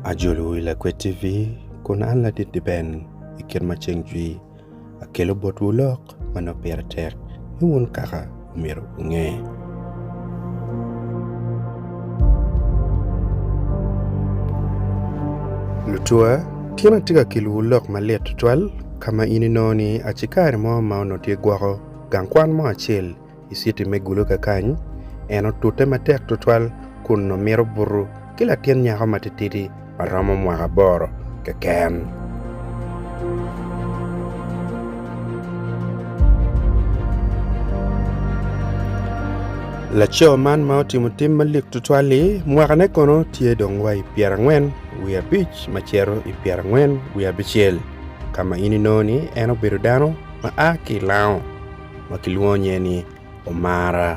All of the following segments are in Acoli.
Ajolo i Lakwed TV kun an ladit-ti ben i kit ma ceng jwi. Akelo botwu lok ma nongo pire tek ni wun kaka omyero wunge. Lutuwa, Tyen atye ka kelowu lok malit tutwal ka ma in inongo ni aci kare mo ma onongo tye gwoko Gang kwan mo acel i citi me Gulu kakany, en otute matek tutwal kun nongo mito buto ki latin nyako matitidi ma romo mwaka aboro keken. Laco man ma otimo tim malik tutwal-li, mwakane kono tye dong wa i pyerangwen wiye abic ma cito i pyerangwen wiye abicel, ka ma in inongo ni en obedo dano. ma a ki i Lango ma kilwongo nyinge ni Omara.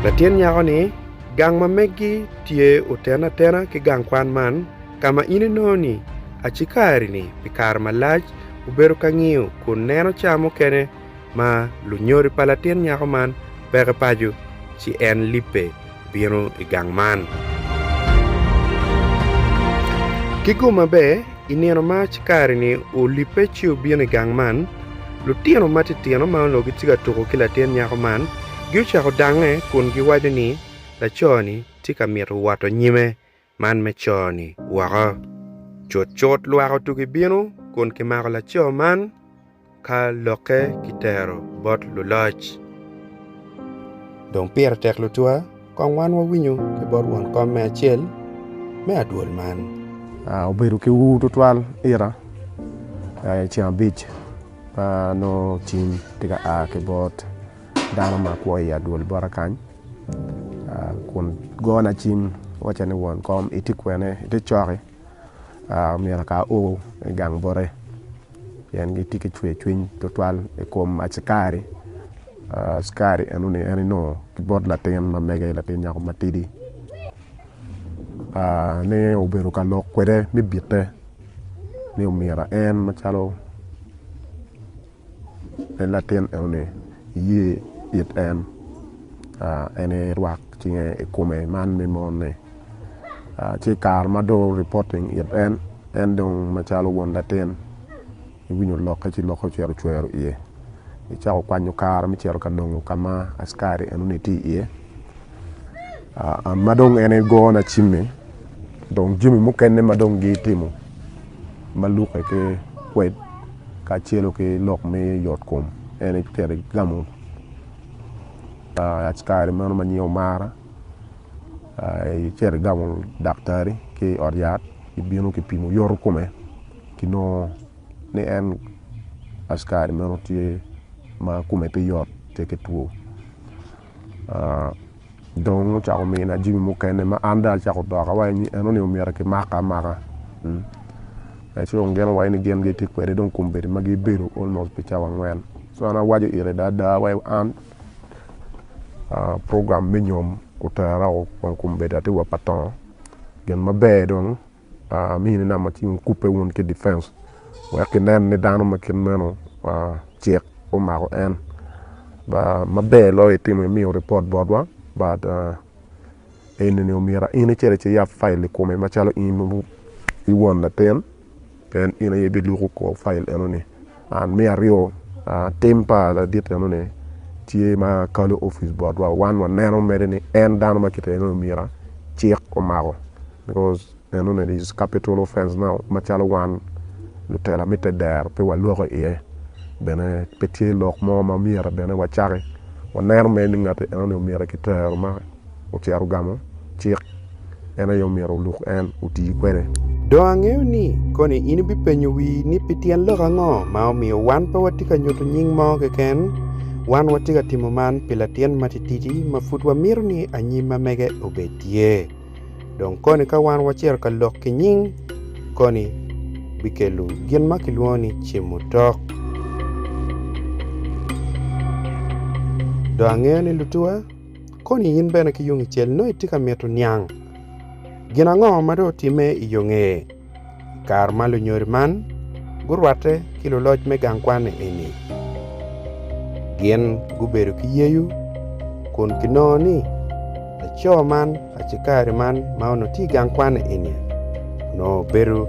Latin nyako ni, Gang ma megi tye otene atena ki gang kwan man ka ma in inongo ni acikari-ni pi kare malac obedo ka ngiyo kun neno cawa mukene ma lunyodi pa latin nyako man peke paco, ci en libbe bino i gang man. Ki gumma bene, i nino ma Cikarini olibbe ci obino i gang man, lutino matitino ma onongo gitye ka tuko ki latin nyako man giocako dange kun giwaco ni, Laco-ni tye ka mito woto nyime. Man me co-ni woko. Cutcut lwak otugi bino kun kimako laco man ka lokke kitero bot luloc. Dong pire tek lutwa kong wan wawinyo ki bot won kom me acel me adwol man. Obedo ki ur tutwal ita ceng abic ma nongo cim tye ka a ki bot dano ma kwo i adwol bota kany kun gona cim wacca ni won kom itye kwene ite coki omyero aka o i gang bote pien gitye ki cwer cwiny tutwal i kom acikari, acikari enoni en onongo ki bot latin ma mege latin nyako matidi ni obedo ka lok kwede me bite ni omyero en macalo en latin enoni iye it en en aye irwak cinge i kome man me mon ni ci i kare ma dong reporting it en en dong macalo won latin iwinyo lokke ci lokke ocito cwero iye icako kwanyo kare me cito ka nongo ka ma askari enoni tye iye ma dong en aye gona cimi dong jami mukene ma dong gitimo ma lukke ki kwed kacelu ki lok me yot kom en aye tere gamo kare meno ma nyinge omara tere gamo daktari ki i ot yat kibino kipimo yoto kome kinongo ni en askari meno tye ma kome pe yot pe kitwo. dong ocako mina jami mukene ma an dong acako doka wa ni en oningo myero ki maka amaka ci dong gin owaco ni gin gitye kwede dong kombeddi ma gibedo almost pi cawa angwen ci an awaco ite ada ada wa an program me nyom otera woko kun kombeddi atye wa pa tongo gin maber dong Amini nama ci wun kubbe wun ki difenc wek kinen ni dano ma kit meno cik omako en. Maber loyo itimo imiyo ripot botwa but enini omyero in icito ci iyab file i kome macalo in wun latin pien in aye ibiluko kor file enoni. And me aryo, tim pa ladit enoni tye ma kalo office botwa, wan waneno mere ni en dano ma kite enoni omyero cik omako because enoni is capital offence now macalo wan lutela me te dero pe waloko i iye bene pe tye lok mo ma myero bene wacaki waneno mere ni ngati enoni omyero kitero ma ocito ogamo cik, en aye omyero oluk en oti kwede. Dong angeyo ni koni in ibipenyo wii ni pi tyen lok ango ma omiyo wan pe watye ka nyuto nying mo keken. Wan watye ka timo man pi latin matitidi ma pud wamito ni anyim ma mege obed tye. Dong koni ka wan wacito ka lok ki nying, koni bikelo gin ma kilwongo ni cimutok. Dong angeyo ni lutuwa. Koni in bene ki yung icel nongo itye ka mito niang gin ango ma dong otimme i yo nge i kare ma lunyodi man gurwatte ki luloc me gang kwan eni? Gin gubedo ki yeyu kun ginongo ni laco man Acikari man ma onongo tye i gang kwan eni onongo obedo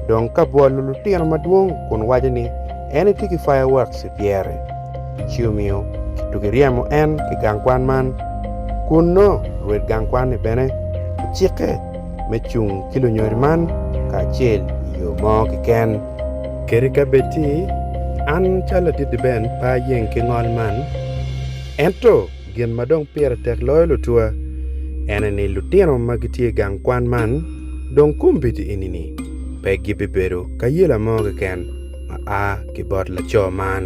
dong ka bwolo lutino madwong kun waco ni en etye ki fireworks i pyere ci omiyo kitugi ryemo en ki i gang kwan man kun nongo rwed gang kwan-ni bene ocikke me cung ki lunyodi man kacel i yo mo keken. Kadi ka bed ci an calo Ladit Deben pe ayeng ki ngol man ento Gin ma dong pire tek loyo lutwa ene ni lutino ma gitye i gang kwan man dong kombeddi enini pe gibibedo ka yela mo keken ma a ki bot laco man.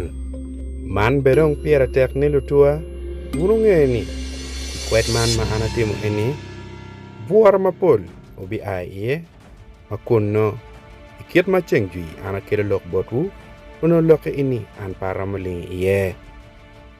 Man bene dong pire tek ni lutwa wun wunge ni i kwed man ma an atimo eni, bwura mapol wubia i iye, ma kunnu i kit ma ceng jwi an akelo lok botwu, onongo lokke eni an pe aromo lingo i iye.